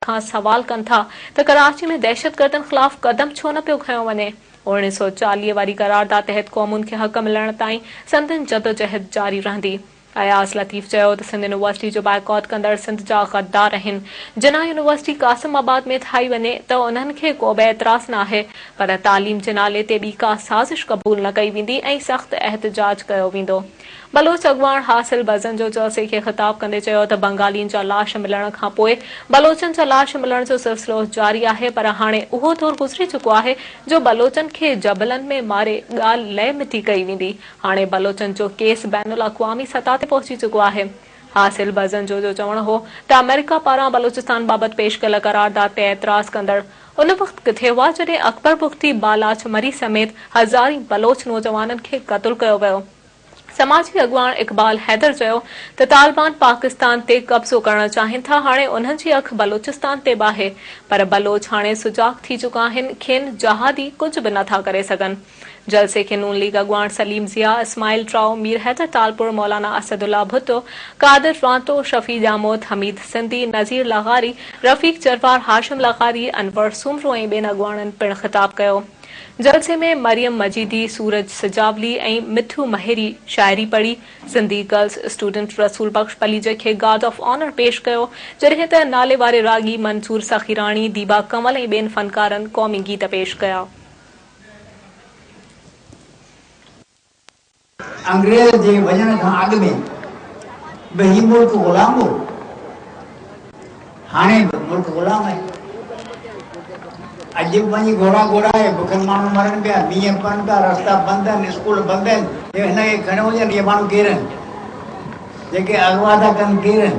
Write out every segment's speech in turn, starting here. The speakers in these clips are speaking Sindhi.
کان سوال ڪن ٿا ته ڪراچي ۾ دهشتگردن خلاف قدم ڇو نه پيو کنيو وڃي؟ اوڻيهه سؤ چاليهه واري قرارداد تحت قومن کي حق ملڻ تائين سندن جدوجهد جاري رهندي. اياز لطيف چيو ته سنڌ يونيورسٽي جو بائيڪاٽ ڪندڙ سنڌ جا غدار آهن، جناح يونيورسٽي قاسم آباد ۾ ٺاهي وڃي ته انهن کي ڪوبه اعتراض ناهي پر تعليم جي نالي تي ٻي ڪا سازش قبول نه ڪئي ويندي ۽ سخت احتجاج ڪيو ويندو. بلوچ اڳواڻ حاصل بزن جو جلسي کي خطاب ڪندي چيو ته بنگالين جا لاش ملڻ کان پوء بلوچن جا لاش ملڻ جو سلسلو جاري آهي پر هاڻي اهو دور گذري چڪو آهي جو بلوچن کي جبلن ۾ ماري ڳالهه لئه مٽي ڪئي ويندي هاڻي بلوچن جو ڪيس بين الاقوامي سطح تي پهچي چڪو آهي حاصل بزن جو جو چوڻ هو ته آمريڪا پاران بلوچستان بابت پيش ڪيل قرارداد تي اعتراض ڪندڙ ان وقت ڪٿي هئا جڏهن اڪبر بگٽي بالاچ مري سميت هزارين بلوچ نوجوانن کي قتل ڪيو ويو. سماجي اڳواڻ اقبال حيدر چيو ته طالبان پاڪستان تي قبضو ڪرڻ چاهين ٿا هاڻي انهن جي اک بلوچستان تي به آهي پر بلوچ هاڻي سجاڳ ٿي چڪا آهن کين جهادي ڪجهه به نه ٿا ڪري سگهن. جلسي کي نون ليگ اڳواڻ سليم ضياء، اسماعيل ٽرائو، مير حيدر ٽالپر، مولانا اسد الله ڀٽو، قادر رانتو، شفيع ڄاموت، حميد سنڌي، نذير لغاري، رفيق جروار، هاشم لغاري، انور سومرو ۽ ٻين اڳواڻن پڻ خطاب ڪيو. جلسي ۾ مريم مجيدي، سورج سجاولي ۽ مٿيو مهيري شاعري پڙهي. سنڌي گرلز اسٽوڊنٽ رسول بخش پليجه کي گارڊ آف آنر پيش ڪيو، جڏهن ته ناليواري راڳي منظور سخيراڻي، ديبا ڪنول ۽ ٻين فنڪارن قومي گيت پيش ڪيا. انگريز جي وڃڻ کان اڳ ۾ به هي ملڪ غلام هو، هاڻي به ملڪ غلام آهي. اڄ به وڃي گهوڙا گهوڙا آهي، بکن ماڻهو مرن پيا، مينهن پون پيا، رستا بند آهن، اسڪول بند آهن. هن کي کڻيو وڃن، اهي ماڻهو ڪير آهن؟ جيڪي اغوا ٿا ڪن ڪير آهن؟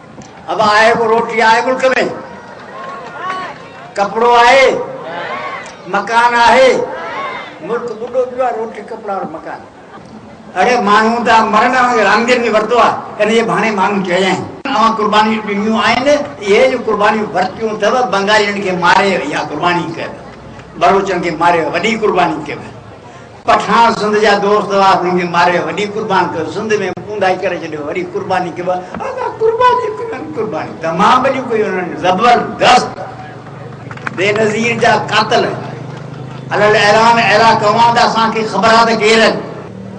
ابا آهي ڪو روٽي آهي ملڪ ۾ ڪپڙو آهي مڪان آهي ملڪ ٻڏو پيو آهي روٽي ڪپڙا اور مڪان اڙي ماڻهو ته مرن اوهان رامدين به ورتو آهي انهي بهاني ماڻهو چيا آهن اوهان قربانيون ڏنيون آهن اهي جو قربانيون ورتيون اٿو بنگالين کي ماري اها قرباني ڪيو بلوچن کي ماري وڏي قرباني ڪيو پٺاڻ سنڌ جا دوست هئا هنن کي ماري وڏي قربان ڪيو سنڌ ۾ اونداهي ڪري ڇڏيو وڏي قرباني ڪيو ادا قرباني ڪنن قرباني تمام وڏيون ڪيون هنن زبردست بي نظير جا قاتل الل اعلان اهڙا ڪوان ته اسان کي خبر آ ته ڪير آهن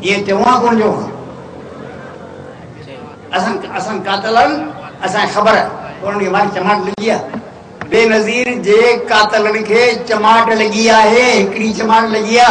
ائين چوان ڪون جو اسان اسان قاتلن اسان خبر ڪون ڏي وان چماٽ لڳي آ بينظير جي قاتلن کي چماٽ لڳي آهي. هڪڙي چماٽ لڳي آ.